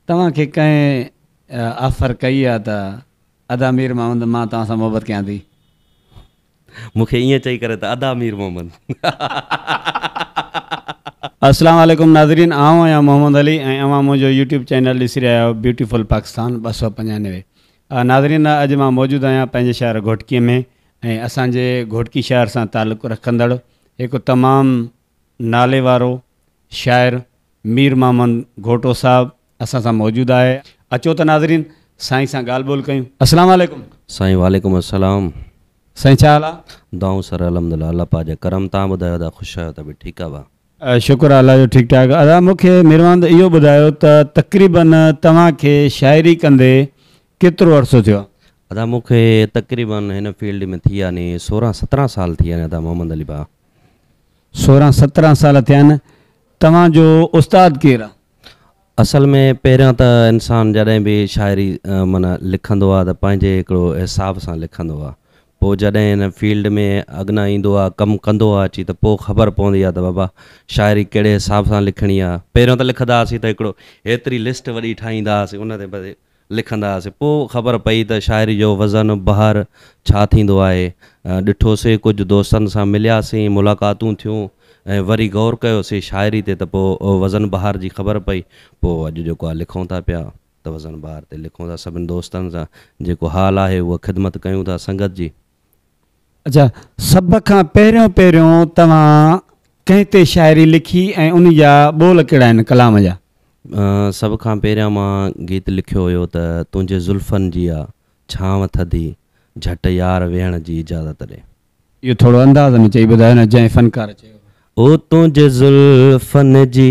توهان کي ڪنهن آفر ڪئي آ ته ادا مير محمد مان توهان سان محبت ڪيان ٿي. مون کي ائين چئي ڪري ته ادا مير محمد. السلام عليڪم ناظرين آئون آهيان محمد علي ۽ اوهان منهنجو يوٽيوب چينل ڏسي رهيا آهيو بيوٽيفل پاڪستان ٻه سؤ پنجانوي ناظرين اڄ مان موجود آهيان پنهنجي شهر گهوٽڪي ۾ ۽ اسان جي گهوٽڪي شهر سان تعلق رکندڙ هڪ تمام ناليوارو شاعر مير محمد گهوٽو صاحب اسان سان موجود آهي اچو ته ناظرين سائين سان ڳالهه ٻولهه ڪيون اسلام عليڪم. سائين وعليڪم السلام. سائين ڇا حال آ؟ دعائون سر الحمدالله الله پاڪ جا ڪرم تهان ٻڌايو ادا خوش آهيو تبي ٺيڪ آ ڀا. شڪر آ الله جو ٺيڪ ٺاڪ ادا مونکي ميرواند اهو ٻڌايو ته تقريبن توهان کي شاعري ڪندي ڪيترو عرصو ٿيو؟ ادا مون کي تقريباً هن فيلڊ ۾ ٿي يعني سورهن سترهن سال ٿي يعني ادا محمد علي ڀاء. سورهن سترهن سال ٿيا آهن. توهان جو استاد ڪير آ؟ اصل ۾ پهريان ته انسان جڏهن به شاعري معنيٰ لکندو آ ته پنهنجي هڪڙو حساب سان لکندو آ پوء جڏهن هن فيلڊ ۾ اڳنا ايندو آ ڪم ڪندو آ اچي ته پوء خبر پوندي آ ته بابا شاعري ڪهڙي حساب سان لکڻي آ پهريان ته لکدا هئاسين ته هڪڙو هيتري لسٽ وڏي ٺاهيندا هئاسين ان تي لکندا هئاسين. پوء خبر پئي ته شاعري جو وزن، بحر، ڇا ٿيندو آهي. ڏٺوسين، ڪجهه دوستن سان ملياسين، ملاقاتون ٿيون ۽ وري غور ڪيوسين شاعري تي ته پوء وزن بحر جي خبر پئي. پوء اڄ جيڪو آهي لکون ٿا پيا ته وزن بحر تي لکون ٿا. سڀني دوستن سان جيڪو حال آهي اها خدمت ڪيون ٿا سنگت جي. اچا سڀ کان پهريون پهريون توهان ڪنهن تي شاعري لکي ۽ ان جا ٻول ڪهڙا آهن ڪلام جا؟ سڀ کان پهريان مان گيت لکيو هيو ته تنهنجي زلفن جي آ ڇانو ٿڌي جهٽ يار ويهڻ جي اجازت ڏي. اهو ٿورو انداز ۾ چئي ٻڌايو نه جنهن فنڪار چيو هو. او تنهنجي زلفن جي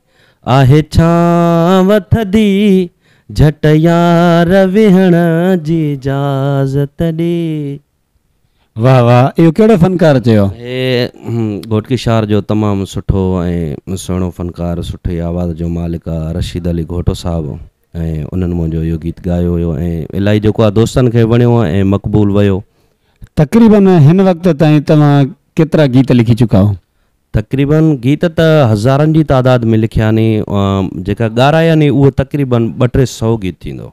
آهي ڇانو ٿڌي جهٽ يار ويهڻ جي اجازت ڏي. واه واه اهو ڪهڙو فنڪار چيو. هي گهوٽڪي شار جو تمام سٺو ۽ سهڻو فنڪار سٺي آواز جو مالڪ آ رشيد علي گهوٽو صاحب ۽ انهن منهنجو اهو گيت ڳايو هيو ۽ الائي جيڪو آ دوستن کي وڻيو ۽ مقبول ويو. تقريبن هن وقت تائين توهان ڪيترا گيت لکي چڪا آهو؟ تقريباً گيت ته هزارن جي تعداد ۾ لکيا آهن جيڪا ڳارائي آهن اهو تقريباً ٻه ٽي سئو گيت ٿيندو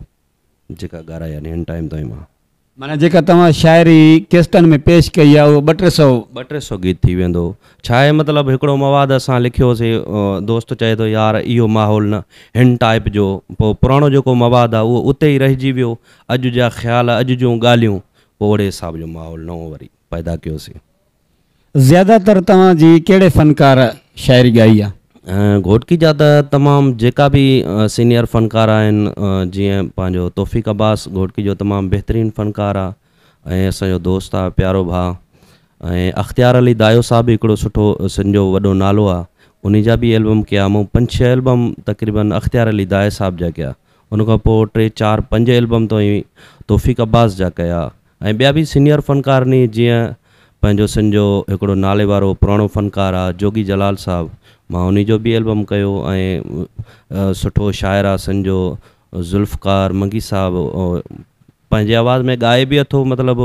جيڪا ڳارائي آهن هن ٽائيم تائين مان. معنيٰ جيڪا توهان شاعري ڪيسٽن ۾ پيش ڪئي آهي اهو ٻه ٽي سئو. ٻه ٽي سئو گيت ٿي ويندو. ڇا آهي مطلب هڪڙو مواد اسان لکيو سي دوست چئي ٿو يار اهو ماحول نه هن ٽائيپ جو پوء پراڻو جيڪو مواد آهي اهو اتي ئي رهجي ويو اڄ جا خيال اڄ جون ڳالهيون پوء اهڙي حساب جو ماحول نئون وري پيدا ڪيو سي. زياده تر توهان جي ڪهڙي فنڪار شاعري ڳائي آ؟ گهوٽڪي جا ته تمام جيڪا به سينيئر فنڪار آهن جيئن پنهنجو توفيق عباس گهوٽڪي جو تمام بهترين فنڪار آ ۽ اسان جو دوست آ پيارو ڀاء ۽ اختيار علي دايو صاحب هڪڙو سٺو سنڌ جو وڏو نالو آ انهي جا به البم ڪيا مون پنج ڇهه البم تقريبا اختيار علي دايو صاحب جا ڪيا ان کان پوء ٽي چار پنج البم توهين توفيق عباس جا ڪيا ۽ ٻيا به سينيئر فنڪار ني جيئن پنهنجو سن جو هڪڙو نالي وارو پراڻو فنڪار آ جوڳي جلال صاحب مان انهي جو به البم ڪيو ۽ سٺو شاعر آ سن جو ذوالفقار منگي صاحب پنهنجي آواز ۾ ڳائي به اٿو مطلب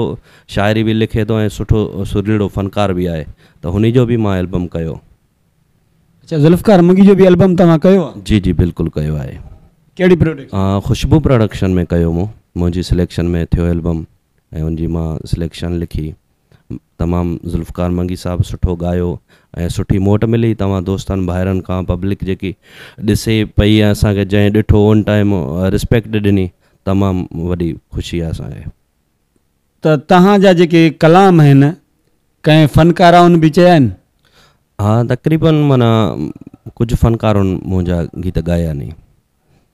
شاعري به لکي ٿو ۽ سٺو سرليڙو فنڪار به آهي ته هني جو به مان البم ڪيو. اچا ذوالفقار منگي جو به البم توهان ڪيو آ. جي جي بلڪل ڪيو آهي. ڪهڙي پروڊڪشن ۾؟ خوشبو پراڊڪشن ۾ ڪيو مون منهنجي سليڪشن ۾ ٿيو البم ۽ ان جي مان سليڪشن لکي تمام ذوالفقار منگي صاحب سٺو ڳايو ۽ سٺي موٽ ملي توهان دوستن ڀائرن کان پبلڪ جيڪي ڏسي پئي ۽ اسان کي جنهن ڏٺو ان ٽائيم رسپيڪٽ ڏني تمام وڏي خوشي آ اسان کي. ته توهان جا جيڪي ڪلام آهن ڪنهن فنڪارائن به چيا آهن؟ ها تقريباً معنيٰ ڪجهه فنڪارائن منهنجا گيت ڳايا آهن.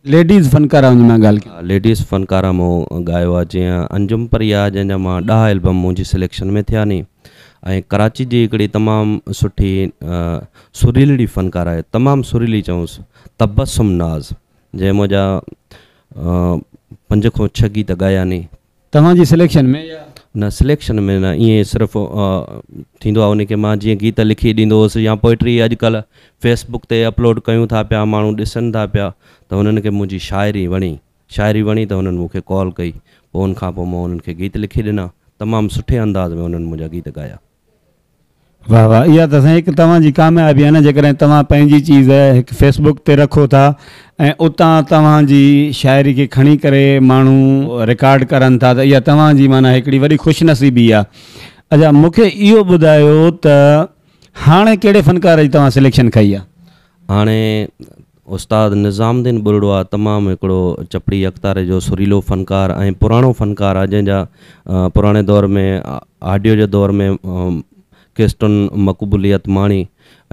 ليڊيز فنڪارائن جي مان ڳالهه ڪيان. ليڊيز فنڪارا مون ڳايو آهي جيئن انجم پريا جنهن جا مان ڏهه البم منهنجي سليڪشن ۾ ٿيا ني ۽ ڪراچي جي هڪڙي تمام سٺي سريلڙي فنڪار آهي تمام سريلي چئونس تبسم ناز جنهن مان جا پنج کان ڇهه گيت ڳايا ني. توهان جي سليڪشن ۾ يا. نه سليڪشن ۾ نه ائين صرف ٿيندو آ انهي کي مان جيئن گيت لکي ڏيندو هوس يا پوئٽري اڄ ڪلهه فيس بڪ تي اپلوڊ ڪيون ٿا پيا ماڻهو ڏسن ٿا پيا ته هنن کي منهنجي شاعري وڻي شاعري وڻي ته هنن مون کي ڪال ڪئي پوء ان کان پوء مان انهن کي گيت لکي ڏنا تمام سٺي انداز ۾ انهن منهنجا گيت ڳايا. واه واه اها ته سائين هڪ توهان جي ڪاميابي آهي نه جيڪڏهن توهان پنهنجي چيز هڪ فيس بڪ تي رکو ٿا ۽ اتان توهان جي شاعري کي کڻي ڪري ماڻهو رڪارڊ ڪرن ٿا ته اها توهان جي معنيٰ هڪڙي وڏي خوش نصيبي آهي اچا مون کي اهو ٻڌايو ته هاڻي ڪهڙي فنڪار جي توهان سليڪشن کئي آهي؟ هاڻي استاد نظام الدين ٻرڙوا تمام هڪڙو چپڙي اڪتاري جو سريلو فنڪار ۽ پراڻو فنڪار آهي جنهن جا پراڻي دور ۾ آڊيو جي دور ۾ ڪيسٽون مقبوليت ماڻي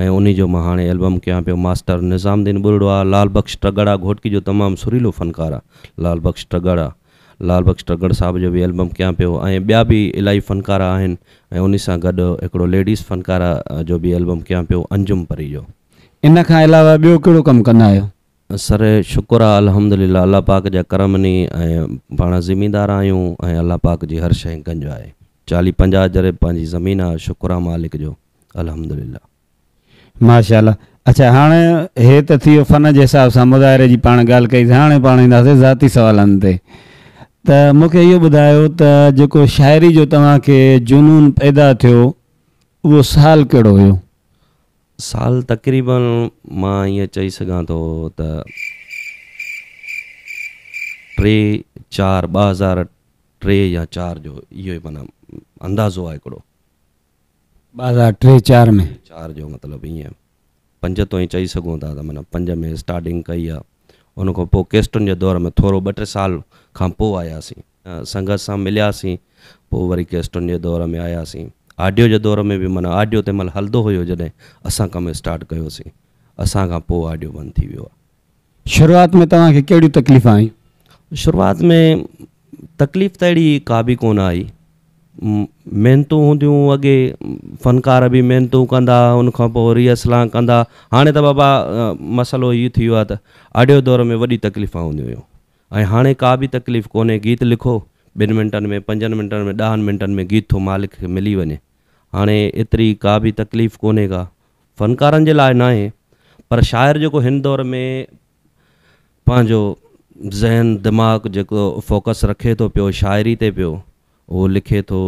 ۽ انهي جو مان هاڻي البم ڪيان پيو ماسٽر نظام الدين ٻرڙوا لال بخش ٽڳڙا گهوٽڪي جو تمام سريلو فنڪار آهي لال بخش ٽڳڙا لال بخش ٽڳڙ صاحب جو به البم ڪيان پيو ۽ ٻيا به الائي فنڪار آهن ۽ انهي سان گڏ هڪڙو ليڊيز فنڪاره جو به البم ڪيان پيو انجم پري جو. ان کان علاوه ٻيو ڪهڙو ڪم ڪندا آهيو؟ سر شڪر آ الحمد لله الله پاڪ جا ڪرم ني ۽ پاڻ زميندار آهيون ۽ الله پاڪ جي هر شئي گنج آهي چاليهه پنجاهه جريب پنهنجي زمين آ شڪر آ مالڪ جو الحمد لله. ماشاء الله اڇا هاڻ هي ته ٿي ويو فن جي حساب سان مظاهري جي پاڻ ڳالهه ڪئي سي هاڻي پاڻ اينداسي ذاتي سوالن تي ته مون کي اهو ٻڌايو ته جيڪو شاعري جو توهان کي جنون پيدا ٿيو اهو سال ڪهڙو هيو؟ سال تقريباً مان ائين چئي سگهان ٿو ته ٽي چار ٻه هزار ٽي يا چار جو اهو ئي معنيٰ اندازو آهي هڪڙو. ٻه هزار ٽي چار ۾. چار جو مطلب ائين پنج تو ائين چئي سگهون ٿا ته معنيٰ پنج ۾ اسٽارٽنگ ڪئي آهي ان کان پوء ڪيسٽن جي دور ۾ ٿورو ٻه ٽي سال کان پوء آياسين. سنگت سان ملياسين پوء وري ڪيسٽن جي دور ۾ آياسين آڊيو جي دور ۾ به معنيٰ آڊيو تنهن مهل هلندو هيو جڏهن اسان ڪم اسٽارٽ ڪيوسين اسان کان پوء آڊيو بند ٿي ويو آهي. شروعات ۾ توهان کي ڪهڙيون تڪليفون آيون؟ شروعات ۾ تڪليف ته اهڙي ڪا به ڪونه آئي محنتون هونديون اڳي فنڪار به محنتون ڪندا ان کان پوء ريهرسلان ڪندا هاڻي ته بابا مسئلو هي ٿي ويو آهي ته آڊيو دور ۾ وڏي تڪليفون هونديون هيون ۽ هاڻي ڪا به تڪليف ڪونهي گيت لکو ٻن منٽن ۾ پنجن منٽن ۾ ڏهن منٽن ۾ گيت ٿو مالڪ کي ملي وڃي هاڻي ايتري ڪا به تڪليف ڪونهي ڪا فنڪارن جي لاء ناهي پر شاعر جيڪو هن دور ۾ پنهنجو ذهن دماغ جيڪو فوڪس رکي ٿو پيو شاعري تي پيو اهو لکي ٿو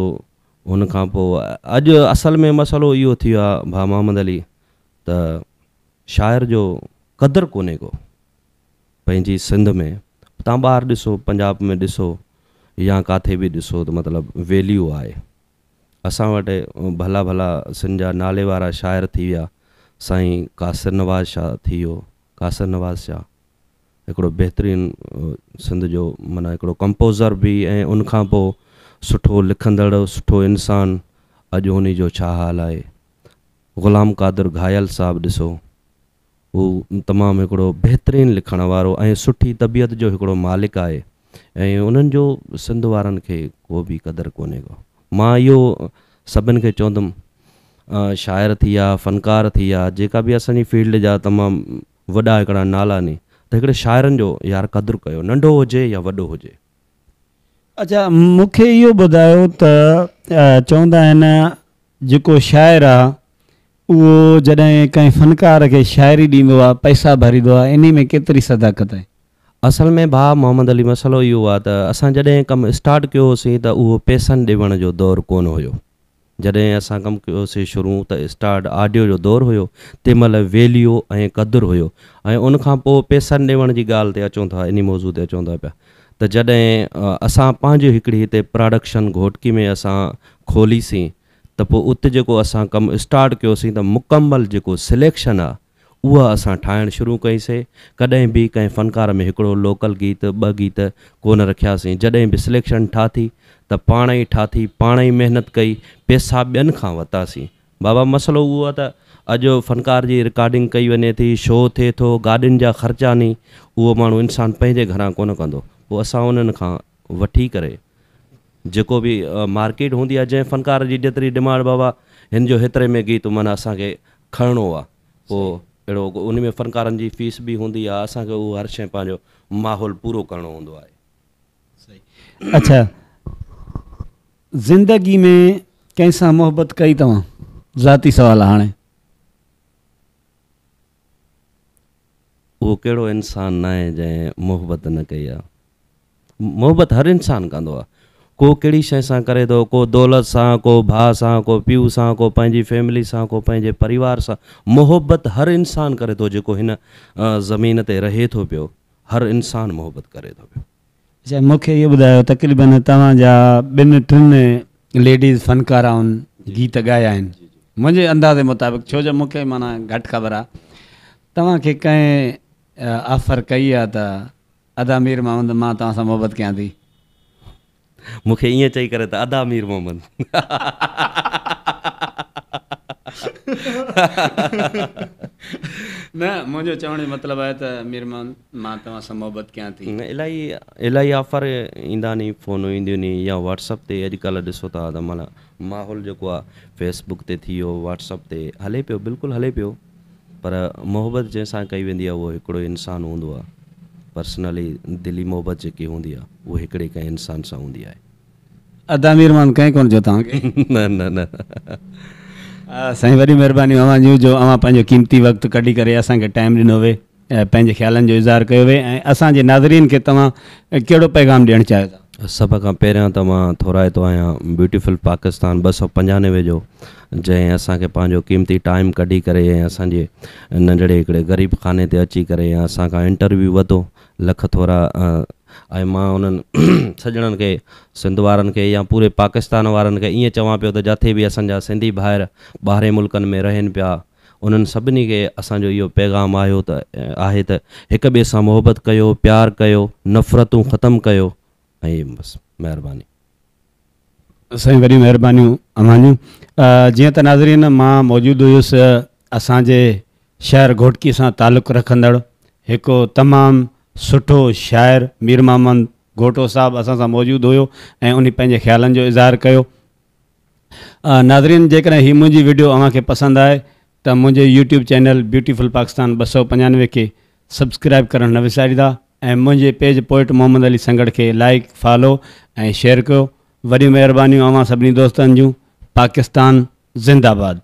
ان کان پوء اڄ اصل ۾ مسئلو اهو ٿي ويو آهي ڀا محمد علي ته شاعر جو قدر ڪونهي ڪو پنهنجي سنڌ ۾ تان ٻاهر ڏسو پنجاب ۾ ڏسو يا ڪاٿي به ڏسو ته مطلب ويليو آهي اسان وٽ ڀلا ڀلا سنڌ جا نالي وارا شاعر ٿي ويا سائين قاصر نواز شاهه ٿي ويو قاصر نواز شاهه هڪڙو بهترين سنڌ جو معنيٰ هڪڙو ڪمپوزر به ۽ ان کان پوء سٺو لکندڙ سٺو انسان اڄ انهي جو ڇا حال آهي غلام قادر گهايل صاحب ڏسو هو تمام هڪڙو بهترين لکڻ وارو ۽ سٺي طبيعت جو هڪڙو مالڪ آهي ۽ انهن جو سنڌ وارن کي ڪو به قدر ڪونهي ڪو مان اهو سڀن کي چوندم شاعر ٿي يا فنڪار ٿي يا جيڪا به اسان جي فيلڊ جا تمام وڏا هڪڙا نالا ني ته هڪڙي شاعرن جو يار قدر ڪيو ننڍو هجي يا وڏو هجي. اچا مون کي اهو ٻڌايو ته چوندا آهن جيڪو شاعر آ اهو جڏهن ڪنهن فنڪار کي شاعري ڏيندو آ پئسا ڀريدو آ انهي ۾ ڪيتري صداقت آهي. اصل ۾ ڀاء محمد علي مسئلو اهو آ ته اسان جڏهن ڪم اسٽارٽ ڪيو هوسين ته اهو پئسن ڏيوڻ جو دور ڪونه هيو. جڏهن اسان ڪم ڪيو سي شروع ته اسٽارڊ آڊيو جو دور هيو تنهن مهل ويليو ۽ قدر هيو ۽ ان کان پوء پيسن ڏيوڻ جي ڳالهه تي اچون ٿا انهي موضوع تي اچون ٿا پيا ته جڏهن اسان پنهنجي هڪڙي هتي پراڊڪشن گهوٽڪي ۾ اسان کولي سين ته پوء ات جيڪو اسان ڪم اسٽارڊ ڪيو سين ته مڪمل جيڪو سليڪشن آهي اها اسان ٺاهڻ شروع ڪئي سي، ڪڏهن به ڪنهن فنڪار ۾ هڪڙو لوڪل گيت، ٻه گيت ڪونه رکياسين، جڏهن به سليڪشن ٺاٿي ته پاڻ ئي ٺاٿي، پاڻ ئي محنت ڪئي، پيسا ٻين کان ورتاسين. بابا مسئلو اهو آ ته اڄ فنڪار جي رڪارڊنگ ڪئي وڃي ٿي، شو ٿئي ٿو، گاڏين جا خرچا ني، اهو ماڻهو انسان پنهنجي گهران ڪونه ڪندو، پوء اسان انهن کان. وٺي ڪري جيڪو به مارڪيٽ هوندي آهي جنهن فنڪار جي جيتري ڊمانڊ بابا هن جو هيتري ۾ گيت معنيٰ اسان کي کڻڻو آهي پوء اهڙو ان ۾ فنڪارن جي فيس به هوندي آهي اسان کي اهو هر شيء پنهنجو ماحول پورو ڪرڻو هوندو آهي. اڇا زندگي ۾ ڪنهن سان محبت ڪئي توهان ذاتي سوال هاڻي. اهو ڪهڙو انسان ناهي جنهن محبت نه ڪئي آ. محبت هر انسان ڪندو آ. ڪو ڪهڙي شيء سان ڪري ٿو، ڪو دولت سان، ڪو ڀاء سان، ڪو پيء سان، ڪو پنهنجي فيملي سان، ڪو پنهنجي پريوار سان. محبت هر انسان ڪري ٿو جيڪو هن زمين تي رهي ٿو پيو. هر انسان محبت ڪري ٿو پيو. اچا مون کي اهو ٻڌايو تقريبن توهان جا ٻن ٽن ليڊيز فنڪارائن گيت ڳايا آهن منهنجي اندازي مطابق ڇو جو مون کي معنيٰ گهٽ خبر آهي توهان کي ڪنهن آفر ڪئي آهي ته ادا مير محمد مان توهان سان محبت ڪيان ٿي. مون کي ائين چئي ڪري ته ادا مير محمد نه منهنجو چوڻ جو مطلب آهي ته مير محمد مان توهان سان محبت ڪيان ٿي. نه الائي الائي آفر ايندا ني فونون اينديون ني يا واٽس اپ تي اڄ ڪلهه ڏسو ٿا ته معنيٰ ماحول جيڪو آهي فيس بڪ تي ٿي ويو واٽس اپ تي هلي پيو بلڪل هلي پيو. پر محبت جنهن سان ڪئي ويندي آهي اهو هڪڙو انسان هوندو آهي پرسنلي دلي محبت جيڪي هوندي آهي اهو هڪڙي ڪنهن انسان سان هوندي آهي. ادا مير مان ڪنهن ڪونه چيو توهان کي. نه نه نه. سائين وڏي مهرباني اوهان جون جو اوهان پنهنجو قيمتي وقت ڪڍي ڪري اسان کي ٽائيم ڏنو وي. پنهنجي خيالن جو اظهار ڪيو وي ۽ اسان جي ناظرين کي توهان ڪهڙو پيغام ڏيڻ چاهيو ٿا؟ سڀ کان پهريان ته مان ٿورائتو آهيان بيوٽيفل پاڪستان ٻه سؤ پنجانوي جو جنهن اسان کي پنهنجو قيمتي ٽائيم ڪڍي ڪري ۽ اسان جي ننڍڙي هڪڙي غريب خاني تي اچي ڪري ۽ اسان کان انٽرويو وتو لک ٿورا ۽ مان انهن سڄڻن کي سنڌ وارن کي يا پوري پاڪستان وارن کي ائين چوان پيو ته جاٿي به اسان جا سنڌي ڀائر ٻاهرين ملڪن ۾ رهن پيا انهن سڀني کي اسان جو اهو پيغام آهيو ته آهي ته هڪ ٻئي سان محبت ڪيو، پيار ڪيو، نفرتون ختم ڪيو ۽ بس. مهرباني. سائين وڏيون مهربانيون اوهان جون. جيئن ته ناظرين مان موجود هيس اسان جي شهر گهوٽڪي سان تعلق رکندڙ هڪ تمام سٺو شاعر ميرمحمد گهوٽو صاحب اسان سان موجود هيو ۽ انهي پنهنجي خيالن جو اظهار ڪيو. ناظرين جيڪڏهن هي منهنجي وڊيو اوهان کي پسند آئي ته منهنجي يوٽيوب چينل بيوٽيفل پاڪستان ٻه سؤ پنجانوي کي سبسڪرائب ڪرڻ نه وساريندا ۽ منهنجي پيج پوئٽ محمد علي سنگهڙ کي لائيڪ فالو ۽ شيئر ڪيو وڏيون مهربانيون اوهان سڀني دوستن جون پاڪستان زنده باد.